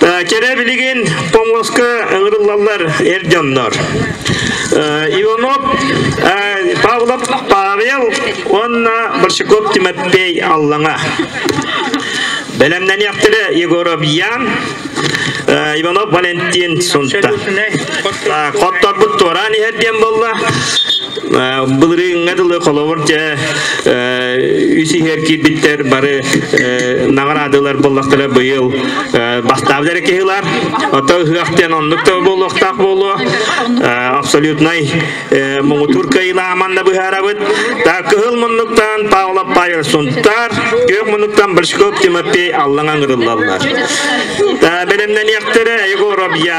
Кэрэ билигин помоска ыҥырыллаллар эр дьоннор. Иванов Павлов Павел уонна Борщаков Тимофей Аллаҥа. Бэлэмнэниэхтэрэ Егоров Ян, Иванов Валентин Сунта. Хотторбут туораан иһэр диэн болла. Былырыыҥҥа дылы холобур дьэ үс иһэр киирбиттэр бары наҕараадылар боллохтара быйыл бастаабыт эрэ киһи ылар. Оттон ыһыах диэн оннук да буолуохтаах буолуо. Абсолютнай муҥутуур кыайылааман да быһаарабыт. Та кыһыл муннуктан Павла Павел Сунтаар, күөх муннуктан Борщков Тимофей Аллаҥа ыҥырыллаллар. Бэлэмнэниэхтэрэ Егор Обья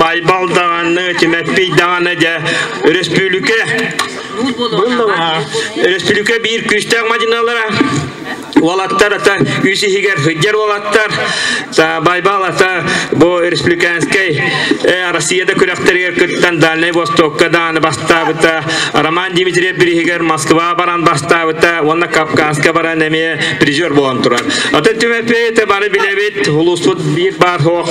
Байбал даҕаны, Тимэппий даҕаны дьэ өрөспүүлүкэ өрөспүүлүкэ биир күүстээх мадьыналара уолаттар ата үс иһигэр сылдьар уолаттар Байбал ата бу республиканскай э, Россияда күрэхтэригэр кыттан Дальнай Востокка дааны бастаабыта Роман Дмитриев бириһигэр Москва баран бастаабыта уонна Кавказка баран эмиэ призер буолан турар ата түмэппи бары билэбит улууспут биир баар суох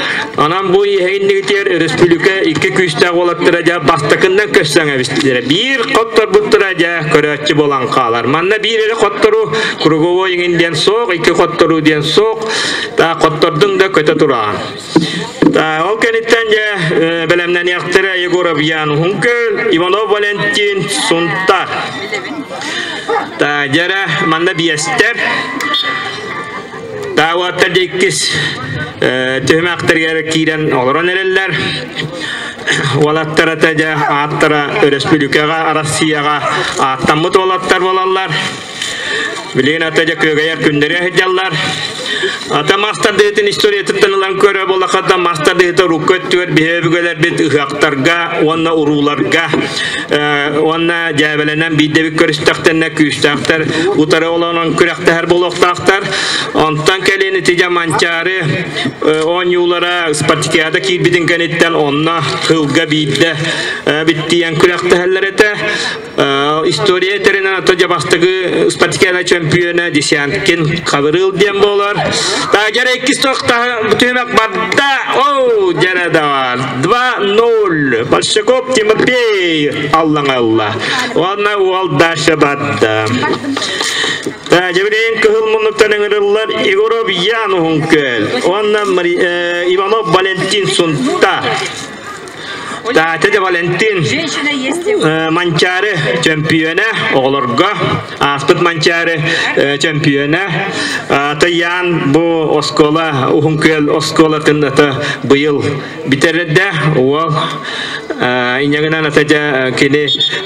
Анан бу иһэйиннигитиэр өрөспүлүкэ икки күүстээх уолаттара дьа бастакыннан көссөң эбистилere. Биир хотторбуттара дьа көрөөччү болан хаалар. Манна биир эри хоттору круговой иҥин диэн соох, икки хоттору диэн соох, та хоттордун да көтө турaan. Ол кәниттен дьэ бәлемнәниэхтэрэ Егоров Ян Хункер, Иванов Валентин Сунтар. Та жара манна биэстер Таабаттар иккис түһүмэхтэригэр киирэн олорон эрэллэр. Уолаттара дьэ ааттара өрөспүүлүкэҕэ Россияҕа ааттаммыт уолаттар буолаллар. Билигин ата дьэ күөгэйэр күннэри ыһыддьаллар. Ата мастардыытын историятыттан ылан көрө болахата мастардыыта урукку өттүгэр биһиги өбүгэлэрбит ыһыахтарга уонна урууларга уонна дьээбэлэнэн биирдэбит көрүстэхтэнэ күүстээхтэр утары олонон күрэхтэһэр буолуохтаахтар онтон кэлин итигэ манчаары оонньуулара спартакиада киирбитин кэнниттэн онно кылга биирдэ биттийэн күрэхтэһэллэр этэ история этэринэн атажа бастагы спартакиада чемпиона Десянкин Кавырыл диэн болар та жара иккис тоқта бүтүмек барда оу жара да бар 2-0. Большаков Тимофей аллаңалла. Уонна уол дальше бардда. Дебрейн кыһыл муннуктан ыҥырыллар Егоров Ян Ухункөл. Уонна Иванов Валентин Сунта. Таатя Валентин Манчаары чемпиона оҕолорго Ааспыт Манчаары чемпиона Таян бу оскуола Уһун Күөл оскуолатын быйыл бүтэрдэ уол инегынан атажа кини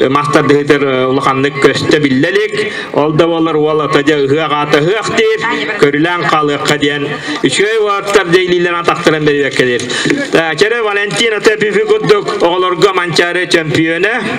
мастардыһытыр улаханнык көстө биллелик ол да болар уол атажа ыһыах аата ыһыах диир көрүлээн хаалыахха диэн үчүгэй уоттар дейлилерен тахтыран берилеркелир Чере Валентин ата пифи курдук оҕолорго Манчаары чемпиона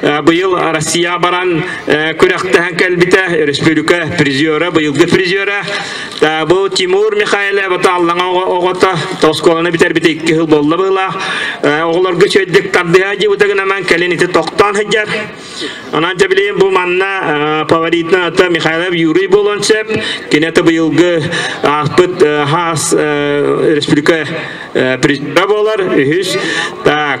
Быйыл Россия баран күрэхтэһэн кэлбитэ өрөспүүбүлүкэ призера, быйылгы призера бу Тимур Михайлов Тааллаҥа оҕото оскуоланы бүтэрбит икки сыл буолла быһылаах оҕолорго чөйдүк тардыһа дьыбыта гынан кэлин ити тохтоон сылдьар онон дьэ билейин бу манна фаворитынан ата Михайлов Юрий буолуон сөп киниэхэ быйылгы ааспыт хаас өрөспүүбүлүкэ призера буолар үһүс так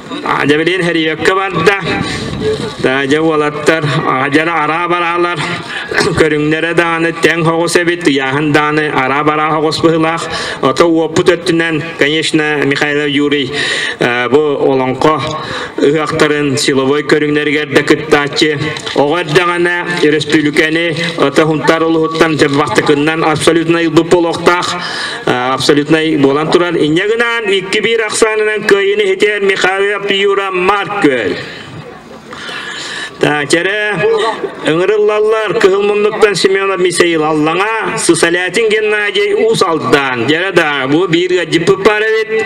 Дьэбилиин Херийеккэ барда. Дьэ уолаттар дьэ араа бараалар көрүҥнэрэ дааны тэҥ хоҕус эбит ыйааһын дааны араа бараа хоҕус быһылаах ото уоппут өттүнэн конечно Михаил Юрий бу олоҥхо ыһахтарын силовой көрүҥнэригэр да кыттааччы оҕо эрдэҕинэ өрөспүүлүкэни ото хунтар улуһуттан дьабахтыкыннан абсолютно ылбыт болуохтаах абсолютнай буолан турар инньэ гынан икки биир ахсаанынан кыайыны хитэр Михаил Пьюра Маркөл Тачере ыҥырыллаллар кыһыл муннуктан Семенов Мисаил Аллаҥа Сысалятин Геннадий Ус Алдан Жара да бу биир гаджиппы паралит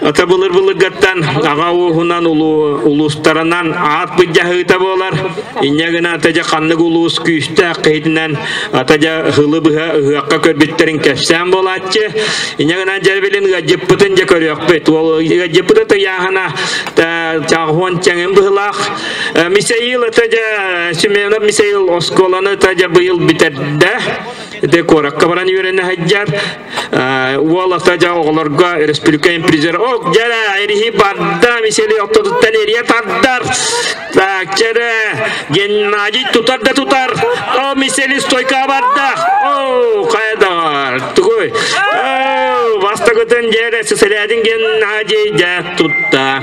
Ата былыр-былыргаттан аҕа ууһунан улуустарынан аат быдьаһыыта буолар. Инньэ гына атажа ханнык улуус күүстээх киһитинэн атажа хылы быһа ыһыахха көрбүттэрин кэпсээн буолааччы. Инньэ гынан дьэрбилин ыаддьыппытын дьэ көрүөхпүт. Уол ыаддьыппыта тыйааһына чаахуон чэҥин быһылаах. Мисаил атажа Семенов Мисаил оскуоланы атажа быйыл бүтэрдэ. Де куоракка баран үөрэнэ Уол атажа оҕолорго республика импризер Ок жара эриһи барда мисели опто туттан эриэ тардар Бакчара Геннадий тутар да тутар О мисели стойка барда О кайдар Тугуй Бастагытын жере сеселядин Геннадий да тутта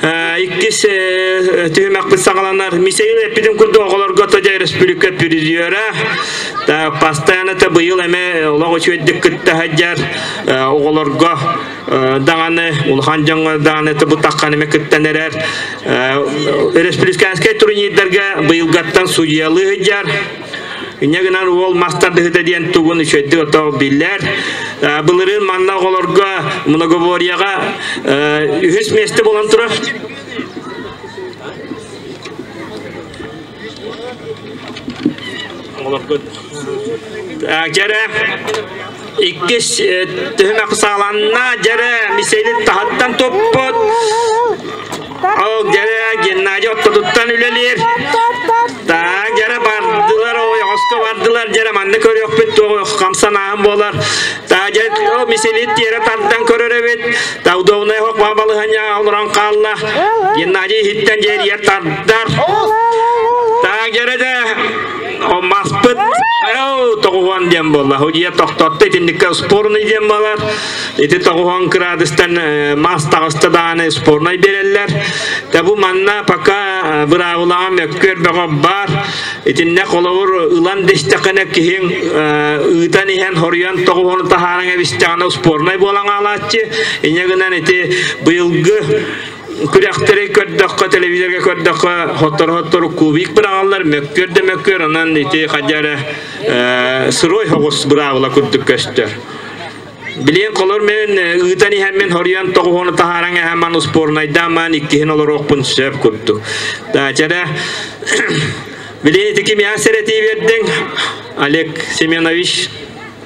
Иккис түһүмэкпит саҕаланар. Мисейл эппитим курдук оҕолорго тоде республика президиора постоянно быйыл эме олох үчүөйдүк кытта хадьар оҕолорго даҕаны улахан дьоҥҥо даҕаны бу тахханыме кыттан эрэр республиканскай турнирдарга быйылгаттан судьялыы хадьар Инньэ гынан уол мас тардыһыта диэн тугун үчүгэйдик отох биллэр. Былырын манна оҕолорго многоборьеҕа үһүс месте болон турар. Оҕолорго Кэрэ иккис түһүмэ сааланна дьэрэ мисэлин таһыттан туппут ол дьэрэ Геннадий ортотуттан үлэлиир так дьэрэ бардылар ой оҕоско бардылар дьэрэ манна көрүөхпүт туох хамсанааһын буолар так дьэ ол мисэлин тиэрэ тардан көрөр эбит так удобная хок балыһаня олорон хаалла Геннадий иһиттэн дьэрийэр тардар так дьэрэ да Маспыт тоҕуһуон диэн буолла. Худьия тохтотто итинникке спорный диэн буолар. Ити тоҕуһуон кыраадыстан мас таҕыста дааны спорнай береллер. Та бу манна пока быраабылаҕа мөккүөр бөҕө бар. Итиннэ холобур ылан диштэккене киһиҥ ыытан иһэн хоруйан тоҕуһуону таһааран эбистэҕинэ спорнай буолан аалааччы. Иньэ гынан ити быйылгы күрэхтэри көрдөххө телевизорга көрдөххө хоттору-хоттору кубик бырааллар мөккүөр да мөккүөр онон ити хадьа эрэ сырой хоҕус быраабыла курдук көстөр Билин колор мен ыытан иһэн мен хорьон тоҕуһуну таһараҥ эһэ ман успорнайдаан ман иккиһин олоруохпун сөп курдук. Таачара Билин ити ким ян серети бердең Олег Семенович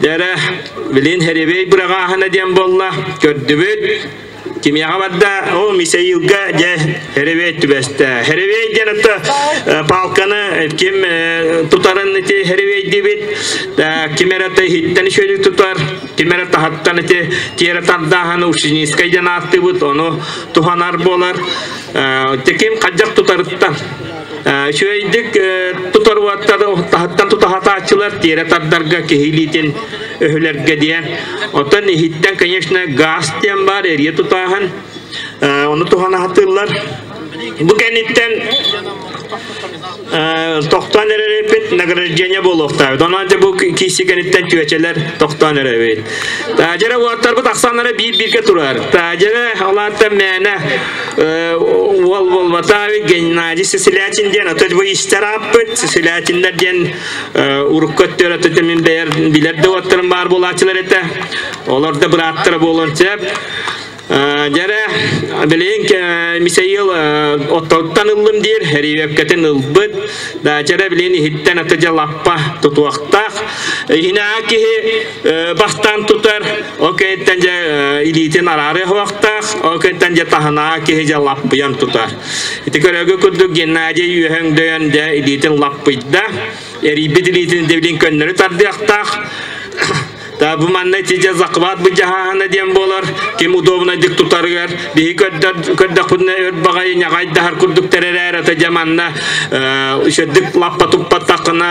Дэрэ, билин херебей быраҕааһына диэн буолла, көрдүбүт. Кимияҕа барда, о, Мисаилга дьэ херебей түбэстэ. Херебей диэн отто палканы ким тутарын ити херебей диибит, ким эрэ хиттэн шөлүк тутар, ким эрэ таһаттан ити тиэрэ тардааһаны ушинискай диэн ааттыыбыт, ону туһанар буолар. Ким хадьах тутарыттан. Үчүгэйдик тутар таһыттан тутаһатааччылар тиэрэ тардарга киһи илиитин өһүлэргэ диэн. Оттон иһиттэн, конечно, газ диэн баар эрийэ тутааһын ону туһан аһатыллар. Бу кэнниттэн тохтоон эрэрипит награждение буолуохтаабыт. Онон же бу киси кэнниттэн чүөчэлэр тохтоон эрэбит. Таажера уоттарбыт ахсааннара биир-биргэ турар. Таажера алаатта мээнэ Волмотави Геннадий Сесилятин диэн ото бу истэр ааппыт Сесилятиннер диэн урукку өттөр ото тэмин билэр да уоттарын баар буолааччылар этэ олор да быраттара буолан сөп Дьэрэ, билейин Мисаил оттоттан ыллым диир, эривепкэтин ылбыт. Да, дьэрэ, билейин иһиттэн аты дьа лаппа тутуохтаах. Иһинаа киһи бастан тутар ол кэнниттэн дьэ илиитин араары уохтаах ол кэнниттэн дьэ таһынаа киһи дьэ лаппыйан тутар ити көрөөгө курдук Геннадий үөһөҥ дөйөн дьэ илиитин лаппыйда эрийбит илиитин дэбилин көннөрү тардыахтаах Та бу манна тиже захват бы жаһана дем болар ким удобнойдык тутарыгар биһи көрдөхпүтүнэ өр багай нягай дахар курдук теререр ата жаманна үшөдүк лаппа туппаттакына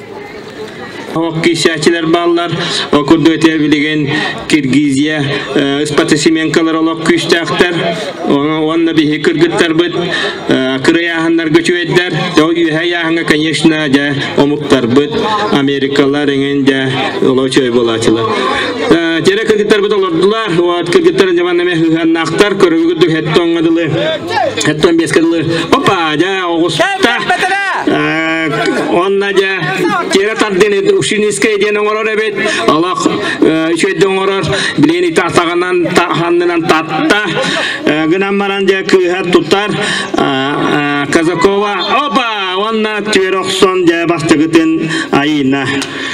Олох бааллар. Ол курдук этэ билигин Киргизия э, спортсменкалар олох күүстээхтэр. Уонна биһи кыргыттарбыт э, кырай ааһыннарга чүөддэр. Ол үһэ ааһынга, конечно, дьэ омуктарбыт Америкалар эҥин дьэ олох чөй болаачылар. Э, Тере кыргыттарбыт олордулар. Вот кыргыттар дьаманнаме хыһаннахтар көрөгү духетто оңадылы. Кэттэн биэскэ дылы. Папа, дьа, оҕуста. Онна дьа, тиэрэ тардыны ушинискай диэн оҥорор эбит. Олох үчөйдө оҥорор. Билин ити атаҕынан ханнынан татта. Гынан баран дьа кыыһар тутар. Казакова, опа, онна түөр охсон дьа бастыгытын айына.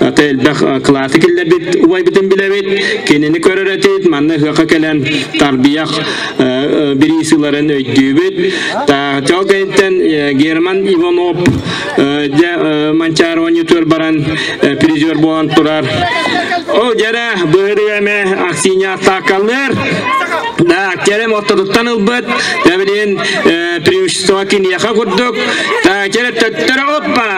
Аты элбэх кылааты киллэрбит убайбытын билэбит, кинини көрөр этит, манна ыһыахха кэлэн тарбиях бириисыларын өйдүүбүт. Тал кэнниттэн Герман Иванов дьэ Манчарованы төр баран призер буолан турар. Ол жара быһырыаме аксиня атакалыр. Да, керем отторуттан ылбыт, тәбирин преимущество кинияха курдук, та керем төттөрө оппа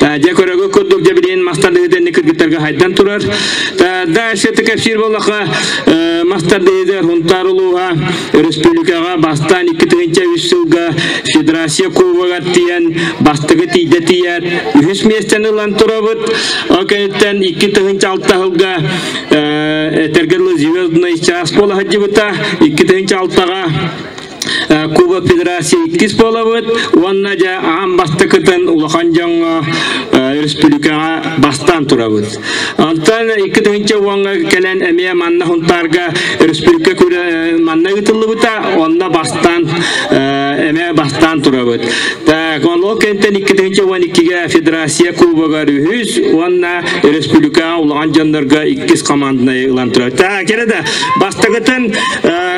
Дьэ, көрөгө курдук дьэбириин мастардыһыдыны кыргыттарга хайдан турар. Дальше Текашир болаха мастардыһыды Хунтар улууга өрөспүүлүкэҕэ бастаан икки тыһынча үс сылга Федерация Кубогар тиийэн бастыгы тиийдэ тиийэр үһүс миэстэни ылан турабыт. Ол кэнниттэн икки тыһынча алта сылга этэрге звездный час буола саддьыбыта икки тыһынча алтаҕа Кубок Федерации иккис буолабыт уонна дьэ аан бастакытын улахан дьоҥҥо өрөспүүбүлүкэҕэ бастаан турабыт. Онтон икки тыһыынча уонга кэлэн эмиэ манна Хунтаарга өрөспүүбүлүкэ манна ыытыллыбыта, онно бастаан эмиэ бастаан турабыт. Так, ол кэнтэн икки тыһыынча уон иккигэ Федерация кубогар үһүс уонна өрөспүүбүлүкэҕэ улахан дьоннорго иккис команднай ылан турабыт. Так, кэрэ да бастакытын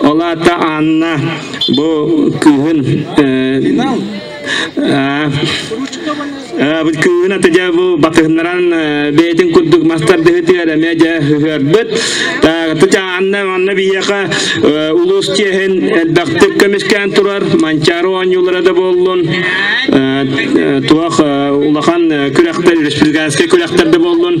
Ол аата Анна бу кыыһын кыыһын ата дьэ бу батыһыннаран бэйэтин курдук мастардыһытыгар эмэ дьэ ыһыарбыт тыт Анна онно биһиэхэ улуус чиэһин элбэхтик көмүскээн турар Манчаары оонньуулара да буоллун туох улахан күрэхтэр республиканскай күрэхтэр да буоллун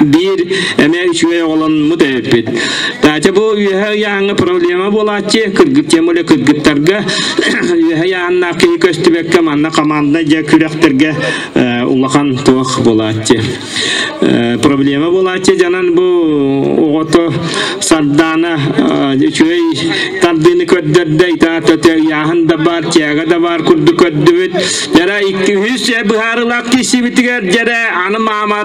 биир эмэ үчүгэй оҕоломмут эбиппит. Таатя бу үөһэ ыйааҥҥа проблема буолааччы, кыргыттыам үлэ кыргыттарга үөһэ ыйааннаах киһи көстүбэккэ манна командна дьэ күрэхтэргэ улахан туох буолааччы. Проблема буолааччы дьанан бу оҕото сардаана үчүгэй тардыыны көрдөрдө, итаата ыйааһын да бар, тиэгэ да бар курдук көрдүбүт. Жара 200 быһаарылаах киһисибитигэр жара аны маама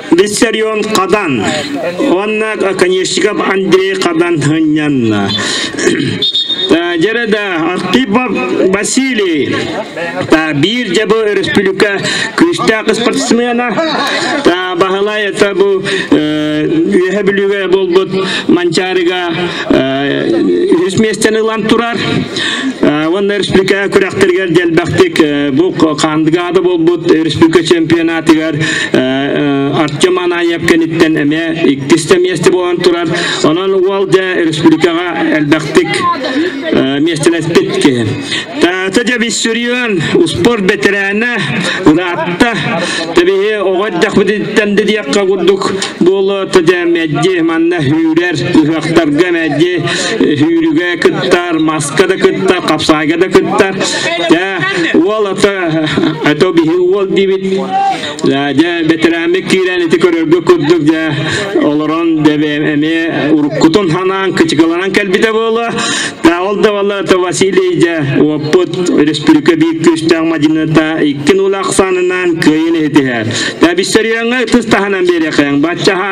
Виссарион Хадан уонна конечников Андрей Хадан ынньанна. Жереда Артипов Василий биир дьабы өрөспүлүкэ күүстээх спортсмена Баһылай это бу үөһэ бүлүгэ буолбут Манчаарыга үһүс миэстэни ылан турар уонна республика күрэхтэригэр дэлбэхтик бу хандыгаада буолбут республика чемпионатыгар артем анаев кэниттэн эмиэ иккистэ миэстэ буолан турар онон уол дьэ республикаҕа элбэхтик миэстэлэспит киһи таата дьэ биссүрион успуорт бэтэрээнэ ыраатта тэбиһи оҕо эрдэхпититтэн диэххэ курдук буолуо дьэ мэджи манна үүрэр Ыһыахтарга эмээдди сүүрүгэ кыттар, маска да кыттар, хапсаайга да кыттар. Дьэ, уол ото ото биһи уол диибит. Дьэ, бэтэрээммит киирэн ити көрөргө курдук дьэ олорон эмиэ уруккутун ханаан кычыкыланан кэлбитэ буолуо. Та ол да вала то Василий дьэ уоппут республика биир күүстээх мадьыныта иккин улаахсаанынан кыайын иһитиһэр. Та бистэрияңа ытыс таһынан биэриэхэң. Баччаһа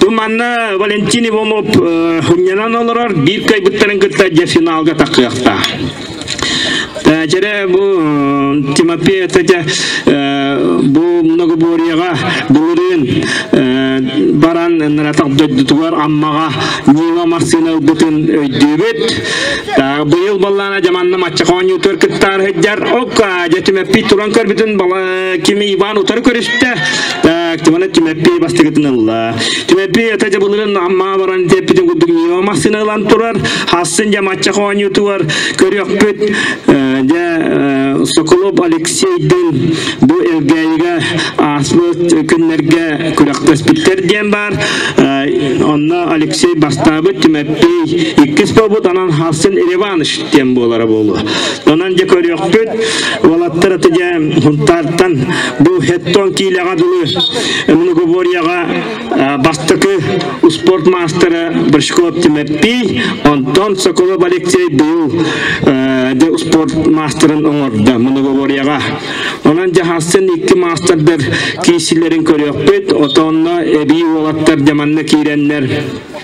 Бу манна Валентин Иванов хунньанан олорор биир кайбыттарын кытта дьэ финалга такыахтаах. Дьэрэ бу Тимофей это бу многоборьега былырын баран наратах дойдутугар аммаға Нила Марсина ылбытын өйдүүбүт. Быйыл баллана жаманна матча хоонньутур кыттар хыджар, окка жетүмеппи туран көрбүтүн бала Кими Иван утары көрүстэ. Тимана Тимеппей бастыгытын ылла. Тимеппей өтө жабылырын амма баран теппитин курдук ньоо массына ылан турар. Хассын же матча хоонньутуар көрүөхпүт. Дэ Соколов Алексейдин бу элгээйигэ ааспыт күннэргэ күрөхпөспүттэр диэн баар. Онно Алексей бастаабыт Тимеппей иккис буолбут анан Хассын Иванович диэн буолара буолуо. Онон дьэ көрүөхпүт, уолаттар аты дьэ хунтаартан бу хеттон киилэҕэ дылы многоборьеҕа бастакы спорт маастара Брышков Тимирпий, онтон Соколов Алексей быйыл де спорт маастерын оҥордо многоборьеҕа. Онон дьаһастан икки маастардар киисилэрин көрүөхпүт, отонно эбии уолаттар дьаманна киирэннэр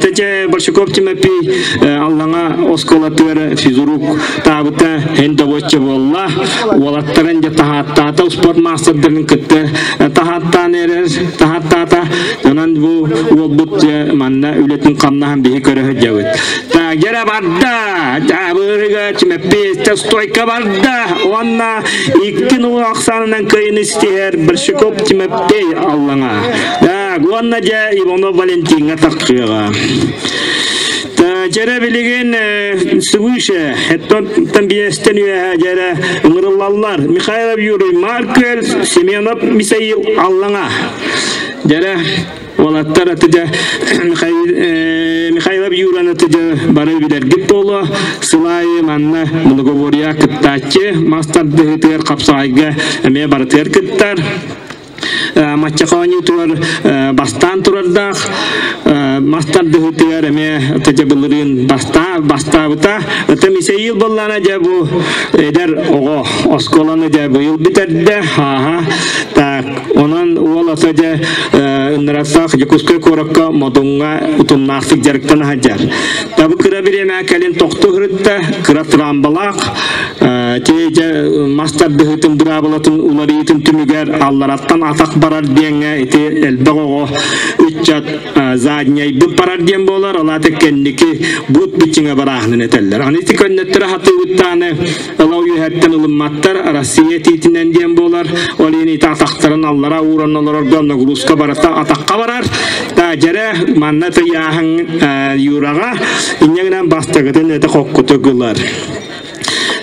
Тетя Борщуков Тимофей Аллаҥа оскуолатыгар физрук таабыта эн добочча буолла. Уолаттарын дьэ таһааттаата, успуорт маастардарын кытта таһааттаан эрэр, таһааттаата. Онон бу уолбут манна үлэтин хамнаһын биһи көрө дьабыт. Тагера барда, Дабырыга Тимофей стойка барда. Онна икки нул ақсанынан кайын истер Борщуков Тимофей Аллаҥа. уонна дьэ Иванов Валентиҥҥа тахсыаҕа. Дьэрэ билигин свыше, эттон тамбиестен үөһэ дьэрэ ыҥырыллаллар. Михаил Юрий Марквель, Семенов Мисаил Аллаҥа. Дьэрэ Олаттар атыдя Михайлов Юран атыдя бары билэргит боло сылайы манна многоборья кыттааччы мастардыһытыгар хапсаҕайга эмиэ барытыгар кыттар Маччах оонньуутугар бастаан турардаах мас тардыһытыгар эмиэ тыдьабылырыын бастаабыта. Ытым ise иил боллана дьэ бу эдэр оҕо оскуоланы дьэ быйыл бүтэрдэ. Ааха так онон уол ото дьэ ынырасах Дьокуускай куоракка Модуҥҥа утумнаахтык дьарыктан аһадьар. Табы кыра бириэмэ кэлин тохту хырытта, кыра трамбалаах Тиэдьэ мас тардыһыытын быраабылатын уларыйыытын түмүгэр аллараттан атах барар диэҥҥэ ити элбэх оҕо ыччат задньайбыт барар диэн буолар ол аата кэнники буут бичиҥэ барааһынын этэллэр аны ити көннөттөрө хатыыбыттааны ыла үөһэттэн ылымматтар Россия тиитинэн диэн буолар ол иһин ити атахтарын аллара ууран олорорго нагрузка барыта атахха барар да дьэрэ манна тыйааһын юраҕа инньэ гынан бастакытын этэ хоккуту гылар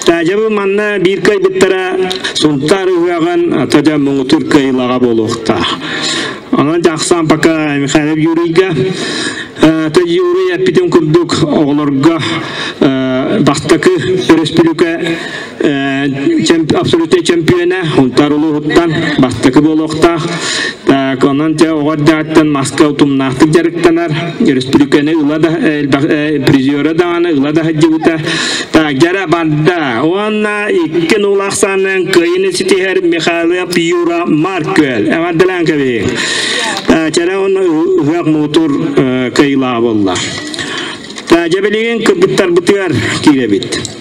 Дьабы манна биир кайбыттара Сунтаар ыһыаҕын тадя муҥутур кыйылаҕа буолуохтаах. Онон жаксаан пока Михайлов Юрийга Юрий эппитин курдук оҕолорго бастакы өрөспүлүкэ абсолютный чемпиона Унтар улууһуттан бастакы буолуохтаах. Так, онон те оҕор дьааттан маска утумнаахтык дьарыктанар. өрөспүүбүлүкэни ыла да призера дааны ыла да сылдьыбыта жара барда уонна икки нулах саннын кыйыны ситиһэр Михайлов Юра Маркөл эҕэрдэлээн кэбиһи жара уонна ыһыах мутур кыйла болла жабилигин кыргыттарбытыгар кииребит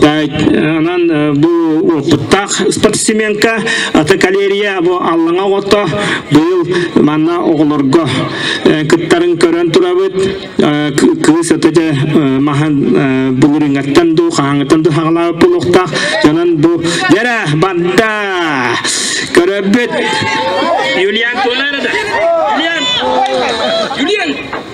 Онон бу опыттаах спортсменка аты калерия бу аллаҥа оҕото быйыл манна оҕолорго кыттарын көрөн турабыт кыыс аты дьэ маһын булуриҥаттан дуу хаһаҥытан дуу хаҕалаабыт буолуохтаах дьонон бу дэрэ банда көрөбүт Юлиан куолара да Юлиан Юлиан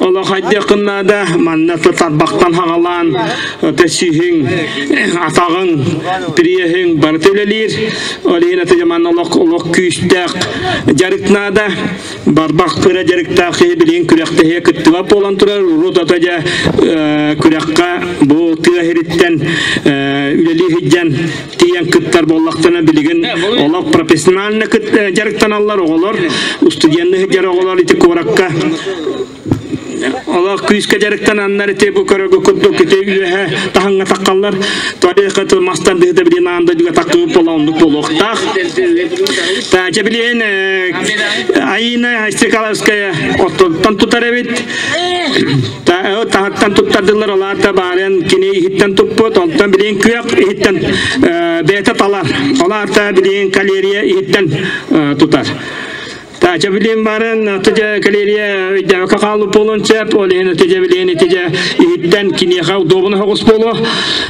Олох айдыакын наада, манна тарбахтан хагалаан, ото сүһүң, атаҕың, приеһиҥ барыта үлэлиир. Ол иһин аты жаман олох олох күүстээх дьарык наада. Барбах кыра дьарыктаах киһи билин күрэхтэһиэ кыттыба буолан турар. Урут ото дьа күрэххэ бу тыа ириттен үлэлии тиийэн кыттар буоллахтына билигин олох профессионально дьарыктаналлар оҕолор устудьуоннуу сылдьар оҕолор ити куоракка олох күүскэ дьарыктананнар ити бу көрөгө курдук ити үөһэ таһаҥҥа таххаллар туалет мастар дыһыта билиэн аан дойдуга тахқыбыт буола оннук буолуохтаах тача билиэн Айына Айстрикаловская оттон тутар эбит таһаттан туттардылар ол аата баарын кини иһиттэн туппут онтон билиҥ күөх иһиттэн бэйэтэ тала ол аата билиҥ калерия иһиттэн тутар Тача билин барын тыжа калерия өйдәвәкә калу полон сөп, ол иһин тыжа билин тыжа иһиттен кинеха удобно хогус болу.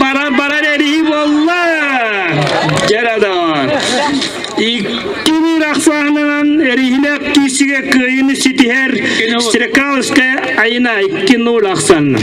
баран баран эрии буолла дьарадан икки биир ахсаанынан эриһилээх киисигэ кыайыны ситиһэр стрекалская айына икки нуль ахсаанынан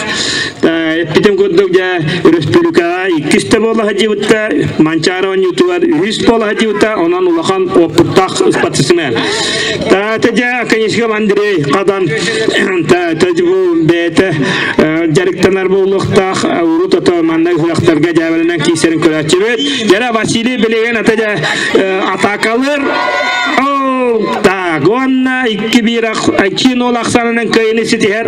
эппитим курдук дьэ өрөспүүбүлүкэҕэ иккис да буола сылдьыбыта Манчаара оонньуутугар үһүс буола сылдьыбыта онон улахан уопуттаах спортсмен таата дьэ Канишков Андрей Хадан тажбу бэйэтэ дьарыктанар буолуохтаах урут ото манна ыһыахтарга дьээбэлэнэн киисэрин көрөөччүбүт жара Василий Белегин ата дьэ атакалыр так уонна икки биир аччыын ол ахсанынан кыйыны ситиһэр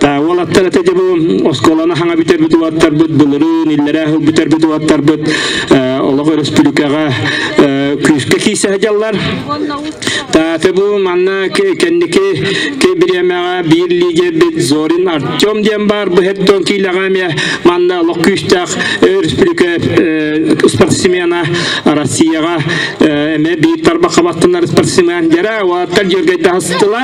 Уолаттар ete дьабы оскуоланы хаҥа бүтэрбит уоттарбыт, былырын иллэрээ хыл бүтэрбит уоттарбыт олох өрөспүлүкэҕэ күүскэ киисэһэ дьаллар. Тааты бу манна кэнники бириэмэҕэ биир лидербит Зорин Артем диэн баар бу хеттон киилэҕэмиэ манна олох күүстээх өрөспүлүкэ спортсмена Россияҕа эмэ биир тарбаха баттанар спортсмен дэрэ уолаттар дьүргэй таһыстылар.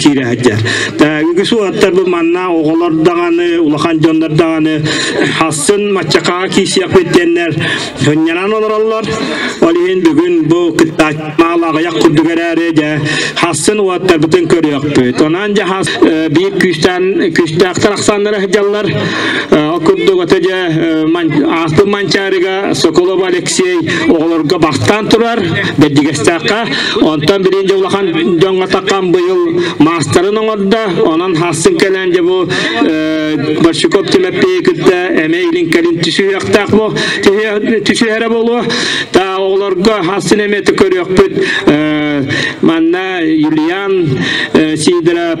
киирэ сылдьар. Үгүс уолаттарбыт манна оҕолор даҕаны, улахан дьоннор даҕаны астын маччакаҕа киисиэхпит диэннэр сынньанан олороллор. Ол иһин бүгүн бу кыттааччы маал аҕыйах курдук эрээри дьэ астын уолаттарбытын көрүөхпүт. Онон дьэ биир күүстээн күүстээхтэр ахсааннара сыдьаллар. Ол курдук ата дьэ ааспыт Манчаарыга Соколов Алексей оҕолорго бахтаан турар, бэрдигэстээххэ Онтон биrinчи улахан дьоҥҥо такам быйыл маастарын оҥордо. Онон хассын кэлэн дьэ бу э, Борщуков Тимофейы кытта эмэ илинкэлин түсүһүөхтээх бу түсүһэрэ болуо. Та оҕолорго хассын эмэти көрүөхпүт. Э, манна Юлиан э, Сидоров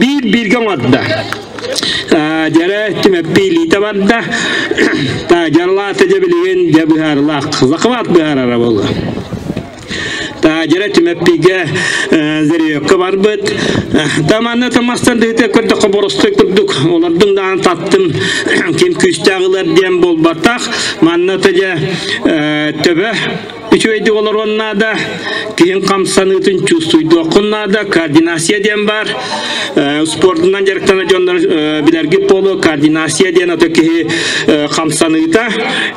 биир бииргэ оҥордо дьэрэ түмэппи илиитэ барда дьарылаата дьэ билигин дьэ быһаарылаах захват быһаарара буолла таажара түмэппигэ зерёкка барбыт таманна тамастан дыһыты көрдөхө боростой курдук олордум даан таттым ким күүстээх ылар диэн буолбатах манна тыже төбө Үчүгэйдик олоруон наада, киһин хамсаныытын чувствуйдуоххун наада, координация диэн баар. Спордунан дьарыктана дьоннор билэргит буолуо, координация диэн ото киһи хамсаныыта.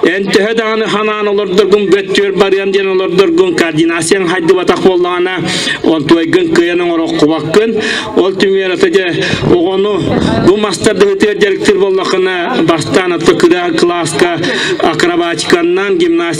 Эн төһө даҕаны ханаан олордоргун бөттүөр барыам диэн олордоргун координацияң хайдыбатах буоллаҕына, ол туойгын кыйан оҥороххубаккын. Ол түмүгэр ото дьэ оҕону бу мастардыһытыгар дьарыктыыр боллохуна бастаан ото кыра кылааска акробатиканнан, гимнастика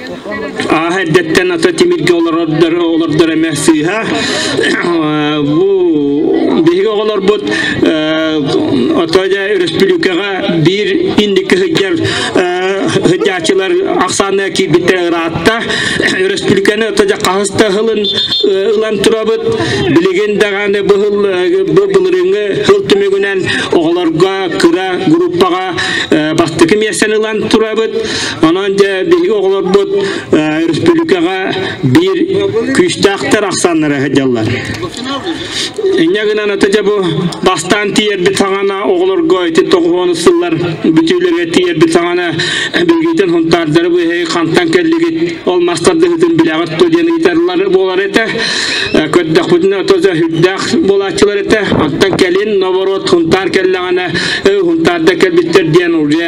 Ааһа эрдэттэн ата тимиргэ олордор олордор эмэ сыыһа. Бу биһиги оҕолорбут ото дьэ өрөспүүлүкэҕэ биир инники сылдьар сыдьааччылар ахсаана киирбиттэр ыраатта. Өрөспүүлүкэни ото дьэ хаһыс да сылын ылан турабыт. Билигин даҕаны бу сыл бу былырыыҥҥы сыл түмүгүнэн оҕолорго кыра группаҕа бастакы миэстэни ылан турабыт. Онон дьэ биһиги оҕолорбут республикаҕа биир күүстээхтэр ахсааннара сылдьаллар. Инньэ гынан ата дьэ бу бастаан тиийэрбит саҥана оҕолорго ити тоҕуһуон сыллар бүтүүлэргэ тиийэрбит саҥана билгитин хунтаардары быһый хантан кэллигит ол мастардыһытын билэҕит ту диэн ыйытарлар буолар этэ көрдөхпүтүнэ отоза үрдээх буолааччылар этэ антан кэлин наоборот хунтаар кэллэҕинэ хунтаарда кэлбиттэр диэн уже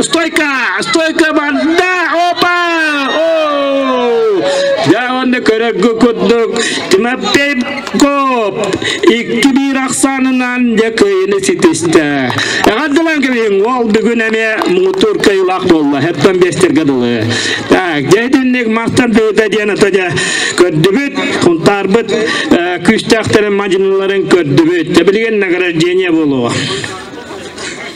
Стойка! Стойка барда! Опа! О! Дьэ уонна көрөргө курдук Тимофей Коп икки биир ахсаанынан дьэ кыйыны ситистэ. Эҕэрдэлэн кэбиһиҥ ол бүгүн эмиэ муҥутуур кыйылаах буолла. Хэттан биэстэргэ дылы. Так, дьэ итинник мастан тыыта диэн ата дьэ көрдүбүт, хунтаарбыт э, күүстээхтэрин мадьыныларын көрдүбүт. Дьэ билигин награждение буолуо.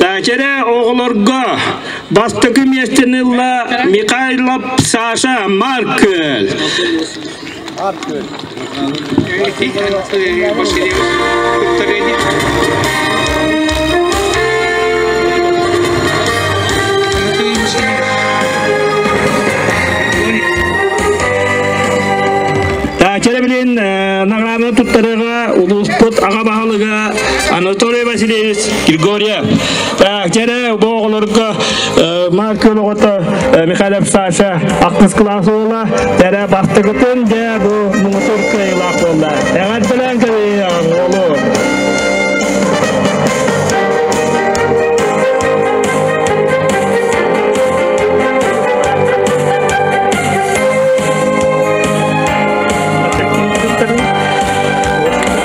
Дачаре оҕолорго бастакы миэстэни ылла Михайлов Саша Маркөл. Дачаре билин награданы туттарыга улууспут аға баһылыга Анатолий Васильевич Григорьев Кэрэ бу оҕолорго Марк Көлөҕото Михайлов Саша Ақтыс класс уола Тәрэ Бахтыгытын дэ бу муҥутур кыайылаах буолла Эҕэр белән кэми оҕолу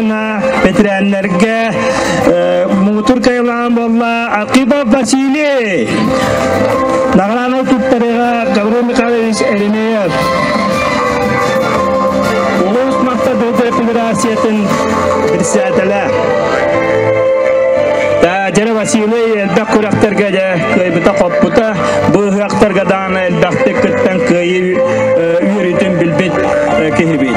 бэтэрээннэргэ муутур кайылаан болла Акипов Василий награнай туттарыга Гаврил Михайлович Эремеев улуус мактабыты федерациятын председателя Дядя Василий элбэх күрэхтэргэ дьэ кыйбыта-хоппута бу ыһыахтарга даана элбэхтик кыттан кыйы үөрүүтүн билбит киһибит